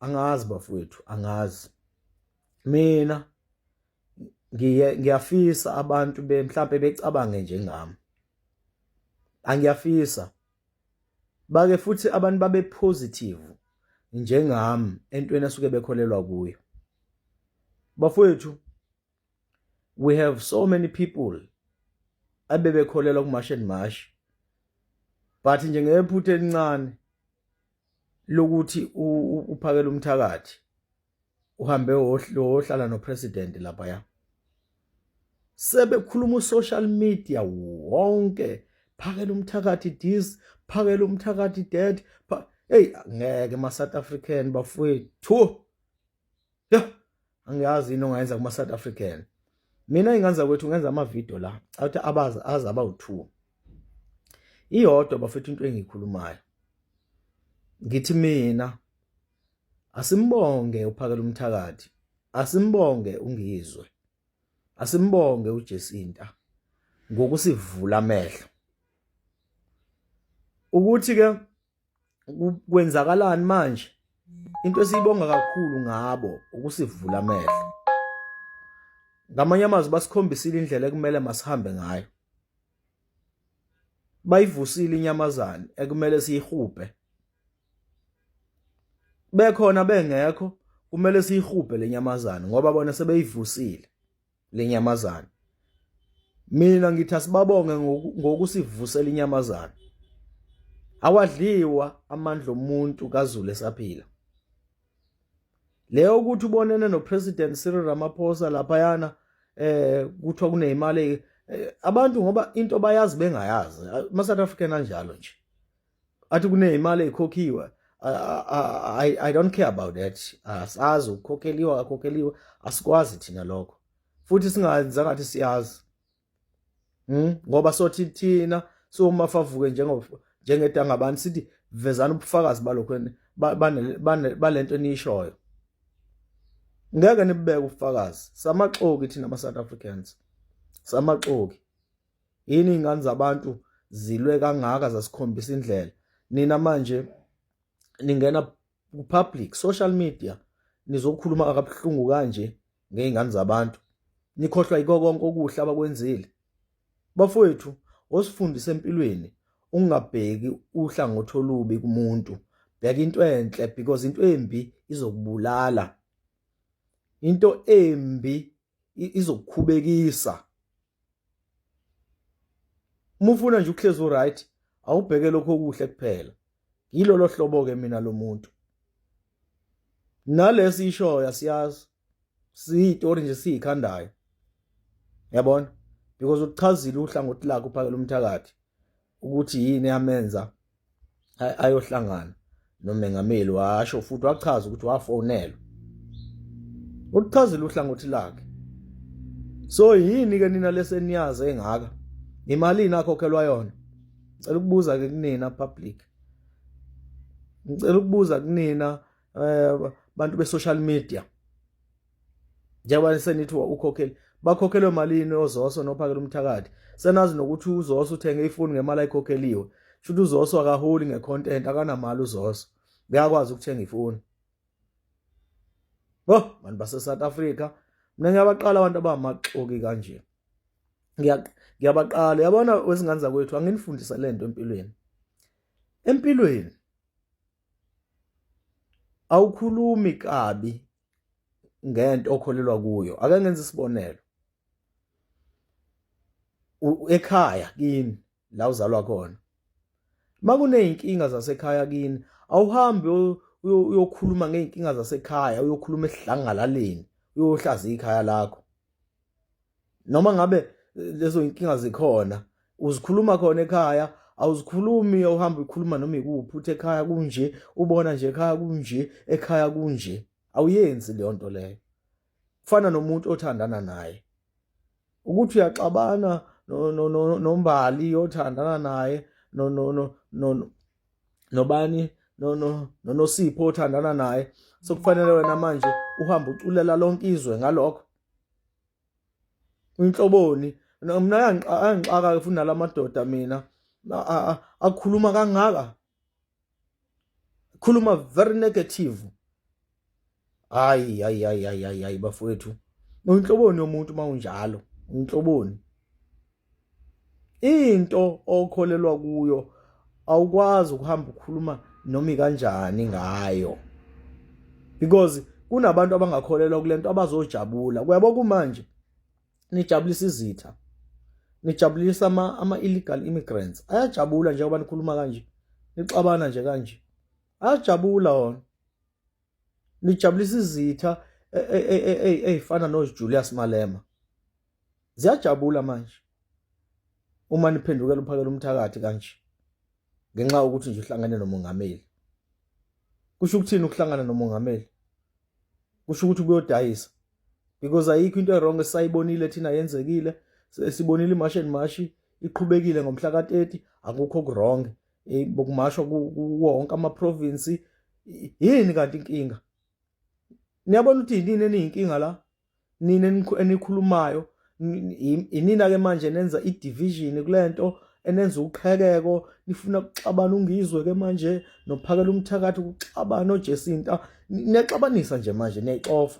angazi bafowethu angazi mina ngiye ngiyafisa abantu be mhlambe becabange njengami angiyafisa bake futhi abantu babe positive njengami entweni asuke bekholelwa kuyo bafowethu we have so many people abebekholelwa kumash and mash but nje ngephutha elincane lokuthi uphakela umthakathi uhambe wohlala nopresident lapha ya sebekhuluma usocial media wonke phakela umthakathi this phakela umthakathi that hey ngeke ma South African bafowethu Yo, angiyazi yini ongayenza kuma South African. Mina inganza kwethu ngenza ama video la, athi abazi azi aba u2. Iyodwa bafethu into engikhulumayo. Ngithi mina asimbonge uphakela umthakathi, asimbonge ungizwe. Asimbonge uJesinta ngokusivula amehlo. Ukuthi ke kwenzakalani manje into esiyibonga kakhulu ngabo ukusivula amehlo ngamanye amazwi basikhombisile indlela ekumele masihambe ngayo bayivusile inyamazane ekumele siyihubhe bekhona bengekho kumele siyihubhe lenyamazane ngoba bona sebeyivusile lenyamazana mina ngithi asibabonge ngokusivusela inyamazana awadliwa amandla omuntu kaZulu esaphila leyo ukuthi ubonene nopresident Cyril Ramaphosa laphayana eh kuthiwa kuneyimali eh, abantu ngoba into bayazi bengayazi ama South African anjalo nje athi kuneyimali ekhokhiwe I, I don't care about that asazi ukukhokheliwe akakhokheliwe asikwazi thina lokho futhi singayenza ngathi siyazi hmm? ngoba sothi thina soma favuke njengedanga abantu sithi vezana ubufakazi balokho balento eniyishoyo ngeke nibubeke ubufakazi samaxoki thina ama-south africans samaxoki yini iy'ngane zabantu zilwe kangaka zasikhombisa indlela nina manje ningena ku-public social media nizokhuluma akabuhlungu kanje ngey'ngane zabantu nikhohlwa yiko konke okuhle abakwenzile bafowethu osifundisa empilweni ungabheki uhlangothi olubi kumuntu bheka into enhle because into embi izokubulala into embi izokukhubekisa uma ufuna nje ukuhlezi uright awubheke lokho okuhle kuphela yilolo hlobo ke mina lomuntu nalesi ishoyo asiyazi siyitori nje siyikhandayo yabona because uchazilu uhlangothi lakhe uphakela umthakathi ukuthi yini yamenza ayohlangana nomengameli washo futhi wachaza ukuthi wafonelwa ulichazile uhlangothi lakhe so yini ke nina leseniyazi engaka imalini akhokhelwa yona ngicela ukubuza ke kunina public ngicela ukubuza kunina eh bantu be social media njengoba senithi ukhokhele bakhokhelwe malini ozoso nophakela umthakathi senazi nokuthi uzoso uthenge ifoni ngemali ayikhokheliwe shuthi uzoso akaholi ngecontent akanamali uzoso ngiyakwazi ukuthenga ifoni bo bantu base-south africa mina ngiyabaqala abantu abamaxoki kanje ngiyabaqala yabona wezingane zakwethu anginifundisa le nto empilweni empilweni awukhulumi kabi ngento okholelwa kuyo ake ngenze isibonelo ekhaya kini la uzalwa khona makuneyinkinga zasekhaya kini awuhambi uyokhuluma ngeyinkinga zasekhaya uyokhuluma esidlangalaleni uyohlaza ikhaya lakho noma ngabe eh, lezo inkinga zikhona uzikhuluma khona ekhaya awuzikhulumi uhamba ukhuluma noma ikuphi uthi ekhaya kunje ubona nje ekhaya kunje ekhaya kunje awuyenzi leyo nto leyo kufana nomuntu othandana naye ukuthi uyaxabana nombali othandana naye nobani nonosipho othandana naye sekufanele wena manje uhamba uculela lonke izwe ngalokho inhloboni mina ayangixaka ke futhi nalamadoda mina akhuluma kangaka khuluma very negative hayi hayi hayi hayi hayi bafowethu uyinhloboni yomuntu uma unjalo uyinhloboni into okholelwa kuyo awukwazi ukuhamba ukhuluma noma ikanjani ngayo because kunabantu abangakholelwa kulento abazojabula kuyabo kumanje nijabulisa izitha nijabulisa ama ama illegal immigrants ayajabula njengoba nikhuluma kanje nixabana nje kanje ayajabula wona lijabulisa izitha ey'fana nojulius malema ziyajabula manje uma niphendukela uphakela umthakathi kanje ngenxa yokuthi nje uhlangane nomongameli kusho ukuthini ukuhlangana nomongameli kusho ukuthi kuyodayisa because ayikho into erong esayibonile thina yenzekile sibonile imasheni mashi iqhubekile ngomhla ka-30 akukho kurong hey bokumashwa kuwonke ama province yini kanti inkinga niyabona ukuthi yini eniyinkinga la nina enikhulumayo inina ke manje nenza i division kulento enenza uqhekeko nifuna ukuxabana ungizwe ke manje nophakela umthakathi ukuxabana ojesinta niyaxabanisa nje manje niyayixova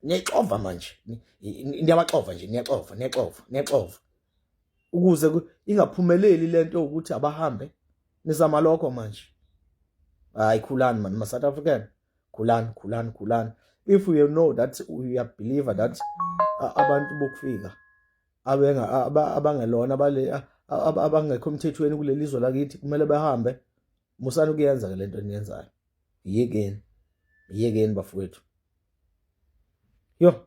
niyayixova manje niyabaxova nje niyaxova niyaxova niyaxova ukuze ingaphumeleli lento ukuthi abahambe nizama lokho manje hayi khulani man ma South African khulani khulani khulani if you know that you are believer that abantu bokufika abenga abangelona abale abangekho emthethweni kuleli zwe lakithi kumele bahambe musani kuyenza ke lento eniyenzayo yekeni yekeni bafowethu yo